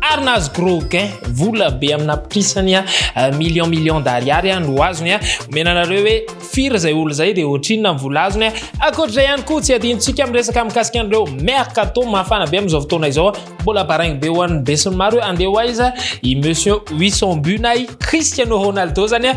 ary nahazo gros gain vola be amina prisany a euh, million million d'ariary a no azony a omena anareo hoe firy zay olo zay de ohatrinona ny vola azony a akoatr'izay ihany koa tsy adinontsika miresaka mikasika an'ireo mercato mafana be amin'izao fotoana izao a mbola baraigny be ho an'ny besony maro hoe andeha ho aiza i monsieur wison bunay cristiano ronaldo zany a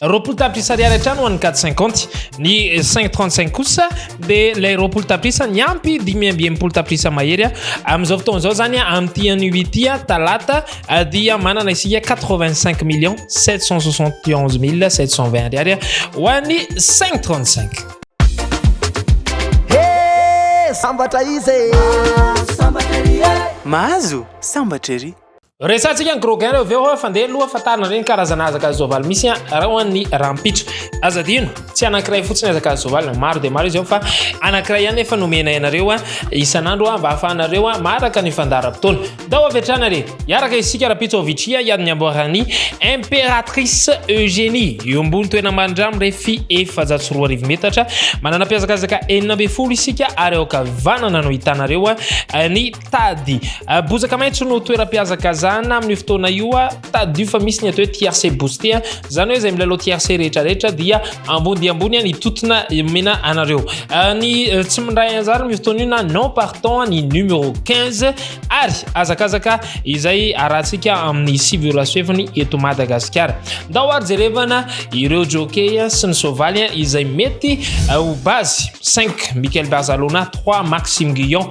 Roapolo tapitrisa ariary hatrany ho an'ny quatre cinquante. Ny cinq trente cinq kosa dia ilay roapolo tapitrisa niampy dimy amby enimpolo tapitrisa mahery. Amin'izao fotoana izao izany amin'ity anio ity talata dia manana isika quatre vingt cinq millions sept cent soixante onze mille sept cent vingt ariary ho an'ny cinq trente cinq. Sambatra izy. Mahazo sambatra ery. Resatsika ny Groguin reo veo fa ndeha loha fa tarina reny karazana azaka zovaly misy reo an'ny rampitso. Aza dino, tsy anankiray fotsiny azaka zovaly, maro dia maro izy eo fa anankiray ihany efa nomenay anareo isan'andro mba afahanareo maharaka ny fandaharam-potoana. Ndao avy hatrany ary hiaraka isika rampitso ao Vichia hiady ny amboaran'i Impératrice Eugénie, eo ambony toerana marindrano mirefy efajato sy roa arivo metatra, manana mpiazakazaka enina ambin'ny folo isika ary ao ankavanana no hitanareo ny Tady. Bozaka maitso no toeram-pihazakazahana amin'io fotoana io. Tadidio fa misy ny atao hoe tiercé boosté. Izany hoe izay milalao tiercé rehetrarehetra dia ambony dia ambony ny totona mena anareo. Ny tsy mindray anzara amin'io fotoana io na non partant ny numéro 15 ary azakazaka izay arahantsika amin'ny sivy ora sy fefany eto Madagasikara. Ndao ary jerevana ireo jockey sy ny soavaly izay mety ho base 5 Michael Barzalona 3 Maxime Guyon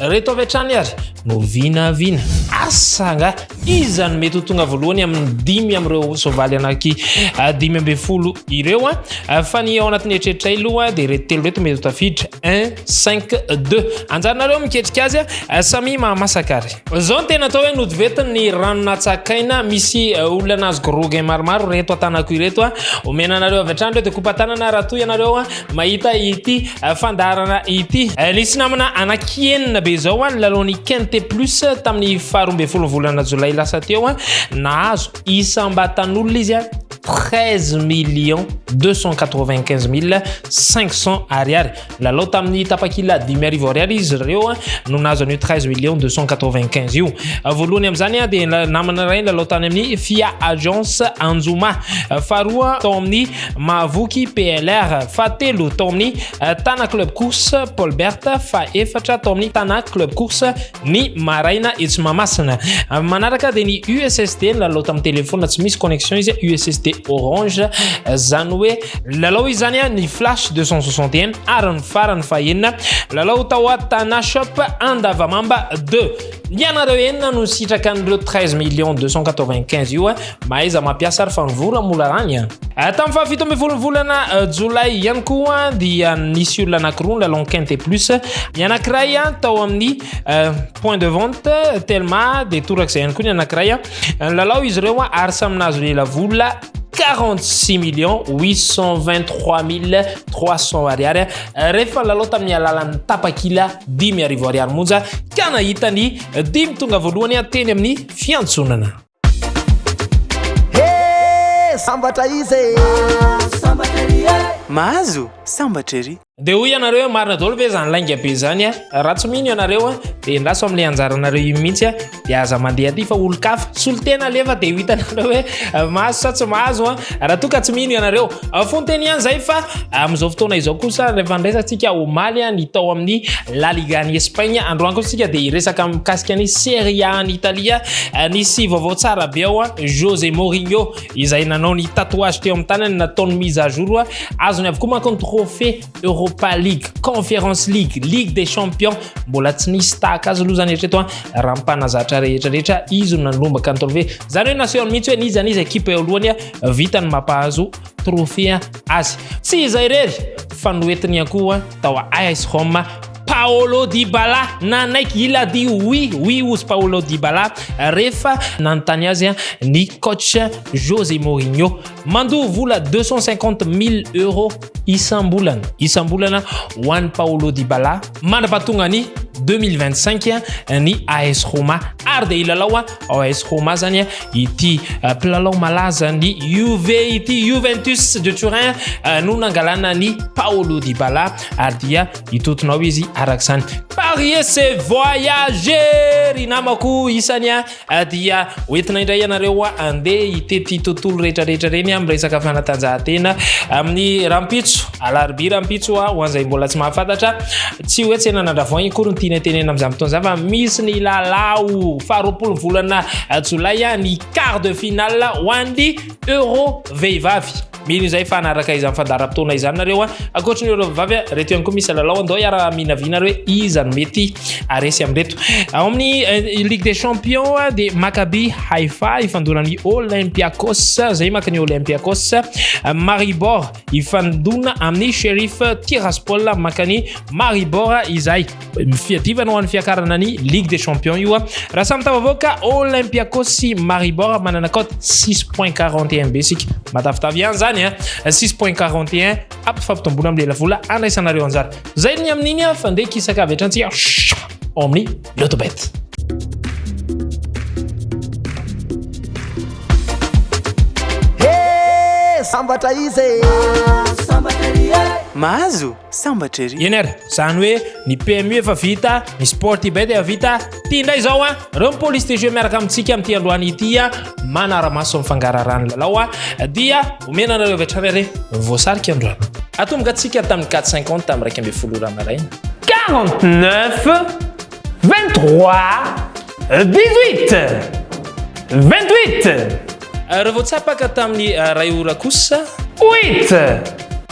Reto avy hatrany ary no vinavina. Asa angaha iza no mety ho tonga voalohany amin'ny dimy amin'ireo soavaly anaky ah, dimy ambin'ny folo ireo a. Ah. Ah, fa ny ao anatin'ny eritreritray aloha dia reto telo reto mety ho tafiditra 1 5 2. Anjarinareo miketrika azy a, samy mahamasaka ary. Zao ny tena atao hoe notivetin'ny rano natsakaina misy olona nazo grogin maromaro reto atanako ireto a. Omena anareo avy hatrany ireo dia kopa tanana raha toa ianareo a. Mahita ity fandaharana ity. Nisy namana anaky enina be izao ny lalaon'ny Quinte Plus tamin'ny faharoa ambin'ny folo volana jolay lasa teo. Nahazo isam-batan'olona izy 13 millions 295 mille 500 ariary. Lalao tamin'ny tapakila dimy arivo ariary izy ireo no nahazo an'io 13 millions 295 io. Voalohany amin'izany dia namana iray lalao tany amin'ny Fia Agence Anjoma. Faharoa tao amin'ny Mahavoky PLR fahatelo tao amin'ny eh, Tana Club Course Paulbert fahefatra tao amin'ny Tana Club Course ny maraina etsy Mahamasina. Eh, manaraka dia ny USSD nilalao tamin'ny telefona tsy misy connexion izy USSD Orange eh, zany hoe lalao izany ny Flash 261 ary ny farany fahenina lalao tao Tana Shop Andavamamba 2 Ianareo enina no sitraka an'ireo 13 millions 295 io eh. Mahaiza mampiasa ary fa ny vola mola rany an. Eh. Eh, tamin'ny fahafito ambin'ny folo volana eh, jolay ihany koa dia nisy olona anankiroa ny lalon quinte plus ny anankiray an tao amin'ny point de vente telma dia torak'izay ihany koa ny anankiray an lalao izy ireo an ary samy nahazo lela vola 46 millions 823300 ariary rehefa lalao tamin'ny alalan'ny tapakila dimy arivo ariary monja ka nahita ny dimy tonga voalohany ateny amin'ny fiantsonana sambatra izy e. sambatra ery e. mahazo sambatra ery Dia hoy ianareo hoe marina daholo ve izany lainga be izany a? Raha tsy mino ianareo a, dia endaso amin'ilay anjaranareo io mihitsy a, dia aza mandeha aty fa olon-kafa. Solon-tena alefa dia ho hitanareo hoe eh, mahazo sa tsy mahazo a. Raha toa ka tsy mino ianareo, eh, fonteny ihany izay fa eh, amin'izao fotoana izao kosa rehefa niresantsika omaly a, ny tao amin'ny La Liga any Espagne, androany kosa isika dia hiresaka mikasika ny Serie A any Italia. Nisy vaovao tsara be ao a, Jose Mourinho izay nanao ny tatouage teo amin'ny tanany nataony mise à jour azony avokoa manko ny trophée Europa League, Conference League, Ligue des Champions mbola tsy nisy tahaka azy aloha zany hatreto a raha mpanazatra rehetra rehetra izy no nanomboka ny trophée zany hoe naseho mihitsy hoe n'iza n'iza ekipa eo alohany vitany mampahazo trophée azy tsy izay irery fa noentiny ihany koa tao AS Roma Paolo Dybala nanaiky hilady oui oui ozy Paolo Dybala rehefa nanontany azy ny coach José Mourinho mandoa vola 250 mille euros isam-bolana isam-bolana ho an'i Paolo Dybala mandra-pahatonga ny 2025 ny AS Roma ary dia hilalao ao AS Roma zany ity euh, mpilalao malaza ny Juve ity Juventus de Turin euh, no nangalana ny Paolo Dybala ary dia hitotonao izy araka izany parie se voyager ry namako isany a ah, dia hoentina indray ianareo a andeha hitety tontolo rehetrarehetra reny a miresaka fanatanjahantena amin'ny rampitso alarbi rampitso a ho an'izay mbola tsy mahafantatra tsy hoe tsena nandravoany kory ny tiana tenena amin'izany fotoana izany fa misy ny lalao faharoapolo volana jolay a ny quart de finale ho an'ny euro vehivavy Mino izay fa hanaraka izany fandaharam-potoana izany nareo a. Ankoatry ny ireo vavy a, reto ihany koa misy lalao andao hiara minavina hoe iza no mety aresy amin'ireto. Ao amin'ny eh, Ligue des Champions a dia Maccabi Haifa ifandona amin'ny Olympiakos, izay maka ny Olympiakos. Maribor ifandona amin'ny Sheriff Tiraspol maka ny Maribor izay. fiadivana ho an'ny fiakarana ny ligue des champions io a raha samy tafavoaka olympiakos sy maribor manana cote 6 point 41 be sika matavitavy ihany zany a 6 point 41 ampifampitomboana amin'ny lelavola andraisanareo anjara zay ny amin'iny a fa ndeha kisaka avy atrantsika ao amin'ny lotobet sambatra izy e. sambatra izy e. mahazo sambatra ery. Eny ary, zany hoe ny PMU efa vita, ny sport eBay dia vita, ty indray zao a, reo ny police de jeu miaraka amintsika amin'ity androany ity a, manara-maso ny fangaraharahan'ny lalao a, dia omena anareo avy hatrany ary voasarika androany. Atomboka antsika tamin'ny quatre cinquante tamin'ny iraika ambin'ny folo ora maraina. Quarante neuf, vingt trois, dix huit, vingt huit. Reo voatsapaka tamin'ny iray ora kosa. Huit.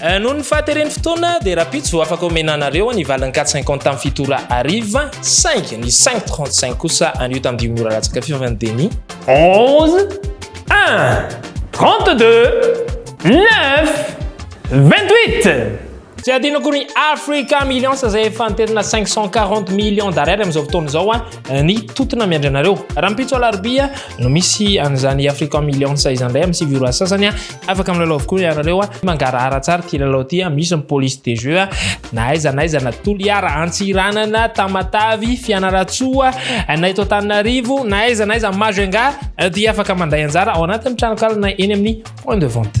Noho ny fahateren'ny fotoana dia rahampitso vao afaka omena anareo ny valin'ny quatre cinquante tamin'ny fito ora hariva saingy ny cinq trente cinq kosa anio tamin'ny dimy ora latsaka fiofan'ny demi onze un trente deux neuf vingt huit Tsy adino akory ny Africa Millions izay efa niterina 540 millions d'ariary amin'izao fotoana izao a ah, ny totona miandry anareo. Rahampitso alarobia no misy an'izany Africa Millions izany indray amin'ny sivy ora sasany a ah. Afaka milalao avokoa ianareo a. Mangarahara tsara ity lalao ity a. Misy ny police de jeu a. Na aiza na aiza na Toliara, Antsiranana, Tamatavy, Fianarantsoa, na eto Antananarivo, na aiza na aiza Majunga dia afaka mandray anjara ao anatin'ny tranonkalona eny amin'ny point de vente.